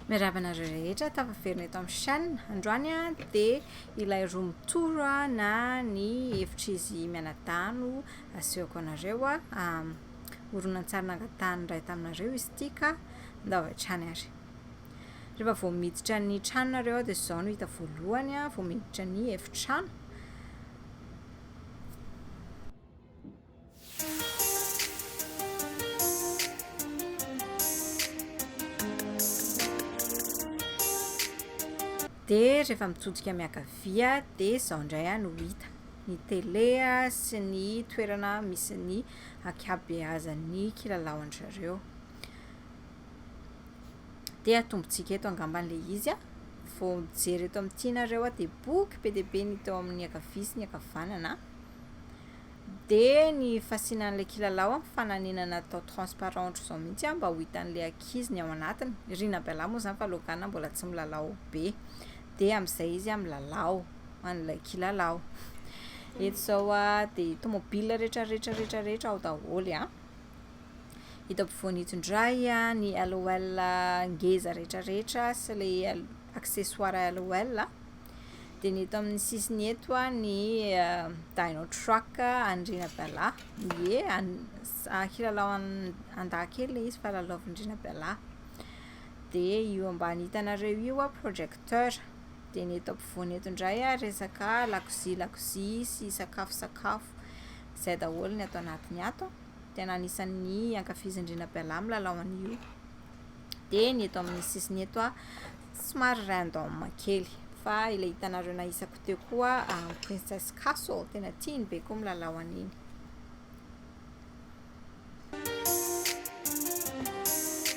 Mirava anareo rehetra tafaverina eto amin'ny chaîne. Androany dia ilay roa mitoro na ny hevitr'izy mianadano asehoko anareo a. Um, horonantsary nangatahany iray taminareo izy ity ka ndao hatrany ary. Rehefa vao miditra ny tranonareo aho dia izao no hita voalohany aho vao miditra ny efitrano. Dia rehefa mitodika miankavia dia izao indray aho no hita. Ny tele sy ny toerana misy ny ankabeazan'ny kilalaon-dry zareo. dia atombontsika eto angamba ilay izy a vao mijery eto amin'ny tianareo a dia boky be dia be ny teo amin'ny akavia sy ny akavanana dia ny fasina an'ilay kilalao a fananina natao transparent ohatr'izao mihitsy a mba ho hitan'ilay ankizy ny ao anatiny ry nabela moa izany fa logana mbola tsy milalao be dia amin'izay izy a milalao an'ilay kilalao eto izao a dia tomobila rehetra rehetra rehetra rehetra ao daholo a Hita ampovoany eto indray ny LOL ngeza rehetrarehetra sy ilay accessoire LOL. Dia ny eto amin'ny sisiny eto ny Dino Truck an'i Rinabala. Ie, kilalao an-dahy kely ilay izy fa lalaovin'i Rinabala. Dia io ambany hitanareo io projecteur. Dia ny eto ampovoany eto indray resaka lakozia lakozia sy sakafo sakafo. Izay daholo ny ato anatiny ato. tena anisan'ny ankafizin'ny Rinabalahy milalao an'io. Dia ny eto amin'ny sisiny eto a, somary random kely. Fa ilay hitanareo nahisako teo koa ah, Princess Castle, tena tiany be koa milalao an'iny.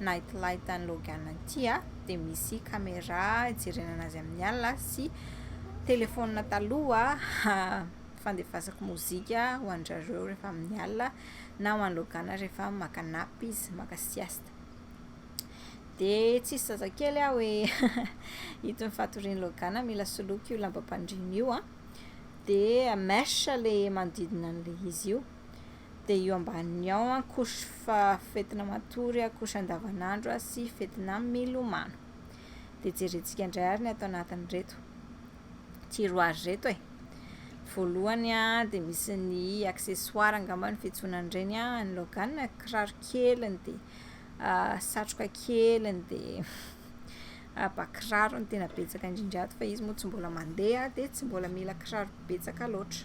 night light an'i Logan ity dia misy caméra hijerenana azy amin'ny alina sy téléphone taloha fandefasako mozika ho an-dry rehefa amin'ny alina na ho an'i Logan rehefa maka nappe izy, maka sieste. Dia tsisy zazakely aho hoe ito ny fatorian'i Logan mila soloiko io lambam-pandriana io an! Dia mèche ilay manodidina an'ilay izy io. dia io ambaniny ao an, couche fa fetina matory, couche andavanandro sy fetina milomano. Dia jerentsika indray ary ny ato anatin'ireto tiroirs ireto e. Voalohany an, dia misy ny accessoires angamba ny fiantsoana an'ireny an, ny logan, kiraro keliny, dia satroka keliny, dia ba kiraro no tena betsaka indrindra ato fa izy moa tsy mbola mandeha dia tsy mbola mila kiraro betsaka loatra.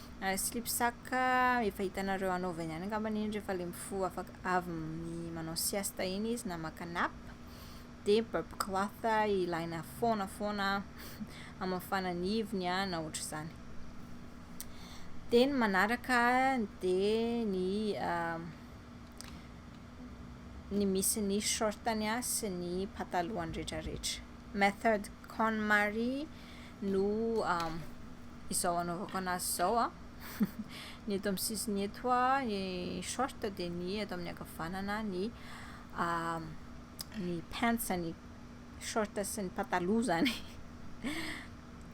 Slip sac efa hitanareo anaovany ihany angambany iny rehefa ilay mifoha afaka avy manao siesta iny izy na maka nap. Dia burp cloth ilaina foana foana hamafana ny ivony na ohatr'izany. Dia ny manaraka dia ny ny misy ny short-ny sy ny pataloany rehetrarehetra. Method KonMari no izao anaovako anazy izao an. Ny eto amin'ny sisiny eto an, ny short dia ny eto amin'ny ankavanana ny ny pants ny short sy ny pataloha izany.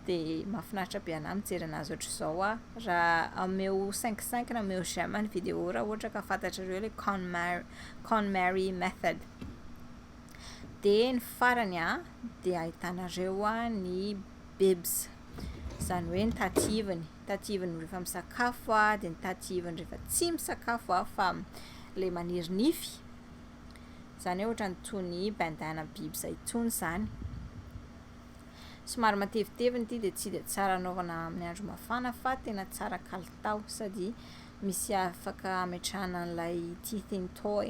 Dia mahafinaritra be anahy mijery anazy ohatr'izao an. Raha ameo cinq cinq na ameo j'aime ny video raha ohatra ka fantatrareo ilay Conmary Conmary method. dia ny farany a dia ahitanareo a ny bebs izany hoe ny tativany tativany rehefa misakafo a dia ny tativany rehefa tsy misakafo a fa le maniry nify izany hoe ohatran'ny toy ny bandana biby izay intsony izany somary matevitevina ity dia tsy dia tsara anaovana amin'ny andro mafana fa tena tsara kalitao sady misy afaka ametrahana an'ilay teething toy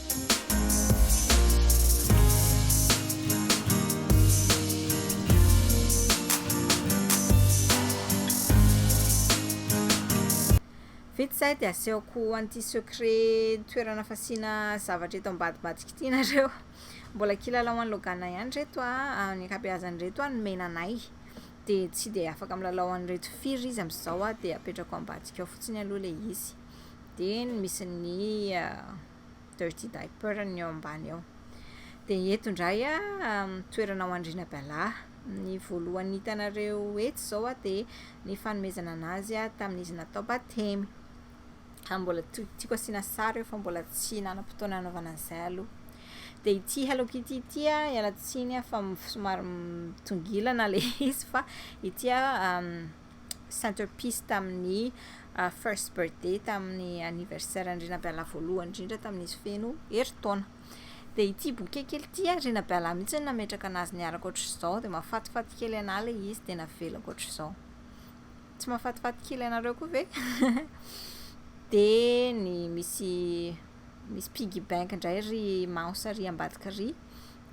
Vita izay dia asehoko an'ity secret toerana fasiana zavatra eto ambadimbadika ity nareo. Mbola kilalao an'i Logan ihany ireto a, ny ankabeazany ireto a nomena anay dia tsy dia afaka milalao an'ireto firy izy amin'izao dia apetrako ambadika ao fotsiny aloha ilay izy. dia ny misy ny dirty diaper ny eo ambany eo dia eto indray toerana ao andriana bala ny voalohany hitanareo etsy izao dia ny fanomezana anazy tamin'izy natao batemy ary mbola tiako asiana sary eo fa mbola tsy nanam-potoana hanaovana an'izay aloha dia ity hello kitty ity ialatsiny fa somary mitongilana ilay izy fa ity centerpiece tamin'ny first birthday tamin'ny anniversaire an'i Rinabealà voalohany indrindra tamin'izy feno herintaona dia ity boke kely ity ary Rinabealà mihitsy no nametraka anazy niaraka ohatr'izao dia mahafatifaty kely anà ilay izy dia navelako ohatr'izao tsy mahafatifaty kely anareo koa ve dia ny misy misy piggy bank indray ry maos ry ambadika ry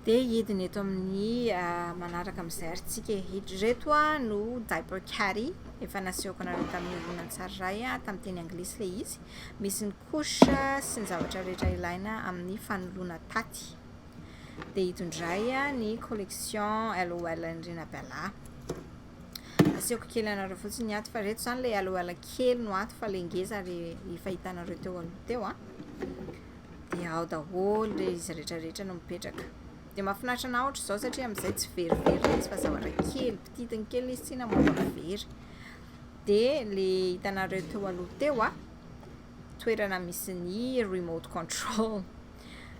Dia hidina eto amin'ny manaraka amin'izay ary tsika e. Ireto no diaper caddy efa nasehoko anareo tamin'ny horonantsary iray tamin'ny teny anglisy ilay izy. Misy ny couche sy ny zavatra rehetra ilaina amin'ny fanoloana taty. Dia ito indray ny collection LOL an'i Rinabella. Asehoko kely anareo fotsiny ny aty fa reto zany le aloala kely no aty fa le ngeza re efa hitanareo teo aloha teo a. Dia ao daholo le izy rehetra rehetra no mipetraka. Dia mahafinaritra na ohatra izao satria amin'izay tsy verivery le izy fa zavatra kely pititiny kely izy tsy namoaka very. Dia le hitanareo teo aloha teo a. toerana misy ny remote control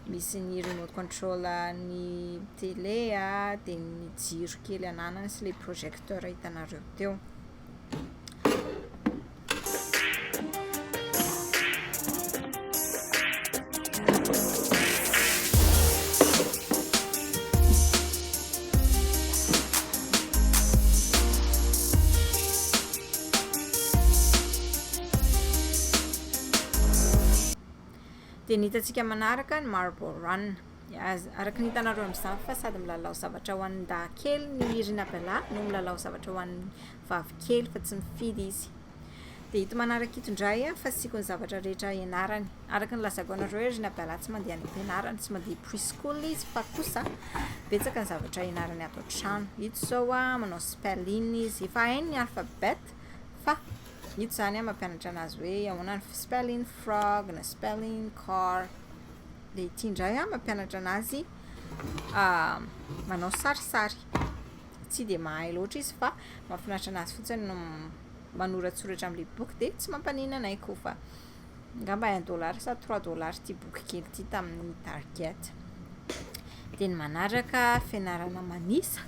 misy ny remote control ny tele a dia ny jiro kely ananany sy le projecteur hitanareo teo Dia ny hitantsika manaraka ny Marble Run. Araka ny hitanareo amin'izany fa sady milalao zavatra ho an'ny dahy kely ny Irina Bella no milalao zavatra ho an'ny vavy kely fa tsy mifidy izy. Dia ito manaraka ito indray fasiako ny zavatra rehetra ianarany. araka ny lazako anareo hoe ry Abdallah tsy mandeha any am-pianarana, tsy mandeha pre school izy fa kosa betsaka ny zavatra ianarany ato an-trano. Ito izao manao spelling izy, efa hainy ny alphabet fa ito izany an mampianatra anazy hoe ahoana ny spelling frog na spelling car. Dia ity indray an mampianatra anazy manao sarisary. Tsy dia mahay loatra izy fa mahafinaritra anazy fotsiny ny manoratsoratra amin'ilay boky dia tsy mampaninona anay koa fa. angamba un dollar sa trois dollars ity boky kely ity tamin'ny target dia ny manaraka fianarana manisa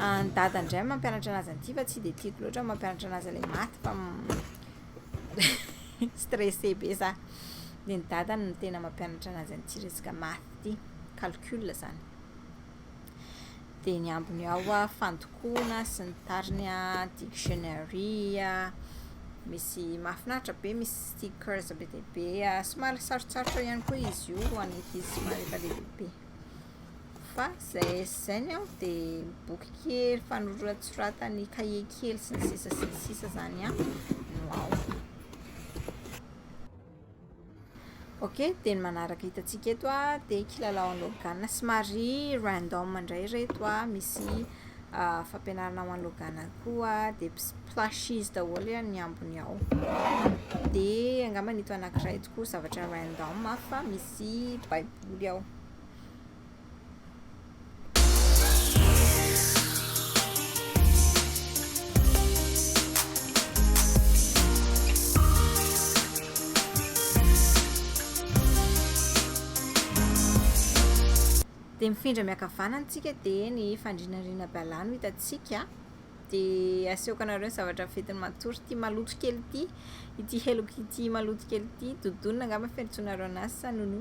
ah, ny dada indray mampianatra anazy an'ity fa tsy dia tiako loatra mampianatra anazy ilay maty fa stressé be za dia ny dada no tena mampianatra anazy an'ity resaka maty ity calcul zany dia ny ambiny ao a fandokoana sy ny tariny a dictionary a misy mahafinaritra be misy stickers be dia be a somary sarotsarotra ihany koa izy io ho an'ny ankizy somary efa lehibehibe fa zay sy zay ny aho dia boky kely fanoratsoratany kahie kely sy ny sisa sy ny sisa zany a no ao Ok, dia ny manaraka hitantsika eto dia kilalaon'ny Logan. Somary random indray ireto, misy fampianarana ho an'ny Logan koa, dia plushies daholo ny ambony ao. Dia angamba ito anankiray ito koa zavatra random fa misy baiboly ao. Dia mifindra miakavana ny tsika dia ny fandrinanrina bala no hitantsika a! Dia asehoko anareo ny zavatra ventin'ny matory ity maloto kely ity, ity helok'ity maloto kely ity, dodona angamba fiantsoanareo anazy sa nono.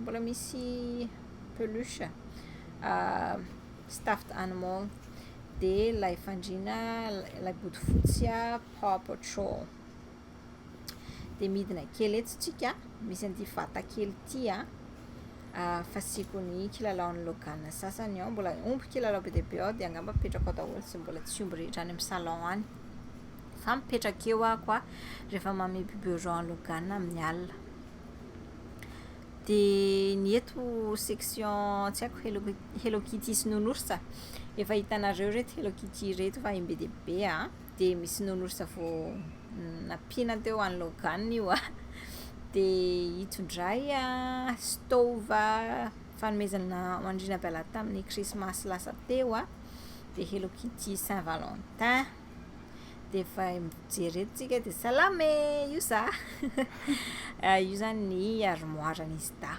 Mbola misy peluche stuffed animal, dia ilay fandriana ilay bodofotsy paw patrol. Dia midina kely etsy tsika misy an'ity vata kely ity an, fasiako ny kilalaon'i Logan sasany ao, mbola omby kilalao be dia be ao dia angamba apetrako ao daholo izay mbola tsy omby rehetra any amin'ny salon any, fa mipetraka eo aho koa rehefa manome biberon an'i Logan amin'ny alina. Dia ny eto section tsy haiko Hello Hello Kitty sy Nounours a! Efa hitanareo ireto Hello Kitty ireto fa em be dia be a! Dia misy Nounours vao nampiana teo any Logan io a! Dia ito indray an, stove fanomezana ho an'ny Rinabala tamin'ny Krismasy lasa teo a! Dia Hello Kitty Saint Valentin. dia efa mijery eto tsika dia salama e io za io zany ny armoire ny sida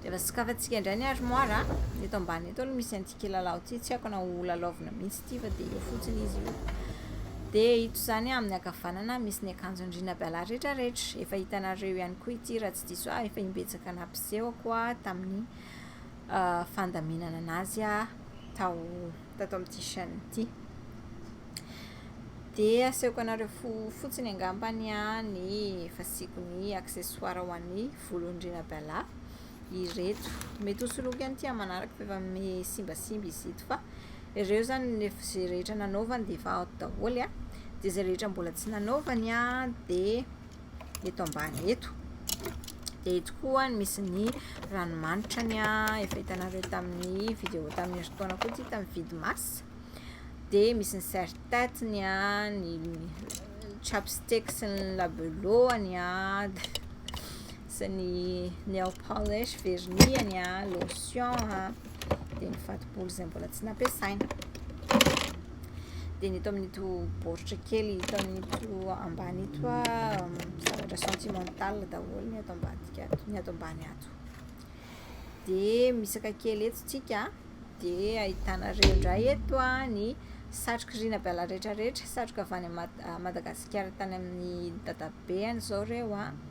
dia efa sokafantsika indray ny armoire a eto ambany eto aloha misy antsika lalao ity tsy haiko na ho lalaovina mihitsy ity fa dia eo fotsiny izy io dia ito zany amin'ny akavanana misy ny akanjon'ny rina biala rehetra rehetra efa hitanareo ihany koa ity raha tsy diso ahy efa imbetsaka nampiseho koa tamin'ny ah, fandaminana anazy aho tao tato amin'ity chaîne ity. Dia asehoko anareo fo fotsiny angamba ny any fasiako ny accessoire ho an'ny volon-drina bala ireto. Mety ho soloiko ihany ity amanaraka fa efa misimbasimba izy ito fa ireo zany ny izay rehetra nanaovany dia efa ato daholo. Dia izay rehetra mbola tsy nanaovany dia eto ambany eto dia eto koa ny misy ny ranomanitra ny a efa hitanareo tamin'ny vidéo tamin'ny eritaona koa tsy tamin'ny vide masse dia misy ny serre tête ny a ny chapstick sy ny labelot ny a sy ny nail polish vernis-any a, lotion a, dia ny fatobolo izay mbola tsy nampiasaina. Dia ny eto amin'ito baoritra kely eto amin'ito ambany ito a, zavatra sentimental daholo ny ato ambadika ato, ny ato ambany ato. Dia misaka kely eto tsika, dia ahitana ireo indray eto a, ny satroka rina bala rehetra rehetra, satroka avy any Madagasikara tany amin'ny dadabe any izao ireo a.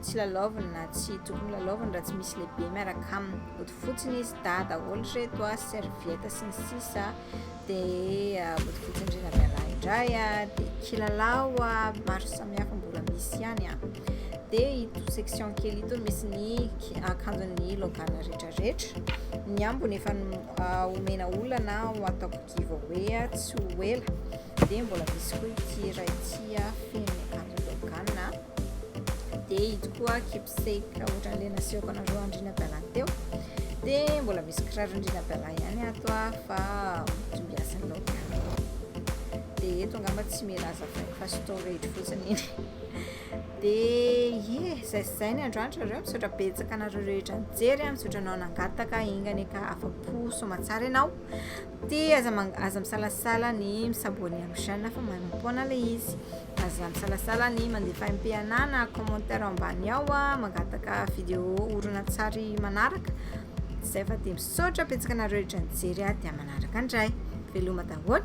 Tsy lalaoviny na tsy tokony lalaoviny raha tsy misy lehibe miaraka aminy. Ody fotsiny izy, dahy daholo ireto a, serviette sy ny sisa a, dia ody fotsiny ry Ramialahy indray a, dia kilalao a, maro samihafa mbola misy ihany a. Dia ito section kely ito misy ny akanjon'ny logana rehetrarehetra. Ny ambony efa omena olana ho ataoko giveaway a, tsy ho ela. Dia mbola misy koa ity iray ity a, feno akanjo logana. dia ito koa kipse raha ohatra an'ilay nasehoko anareo andriana bala teo dia mbola misy kiraro andriana bala ihany ato a fa tombiasan'ny laoka dia eto angamba tsy milaza faiko fa storage fotsiny iny dia ye zay zay ny androanitra reo misaotra betsaka anareo rehetra nijery a misaotra anao nangataka ingane ka afa-po soa aman-tsara ianao Ty aza mang- aza misalasala ny mi-s'abonner amin'ny chaîne fa maimaim-poana le izy. Aza misalasala ny mandeha fahempeana na commentaire ambany ao an, mangataka video horonantsary manaraka. Zay fa dia misaotra betsaka anareo rehetra nijery an, dia manaraka indray. Veloma daholo!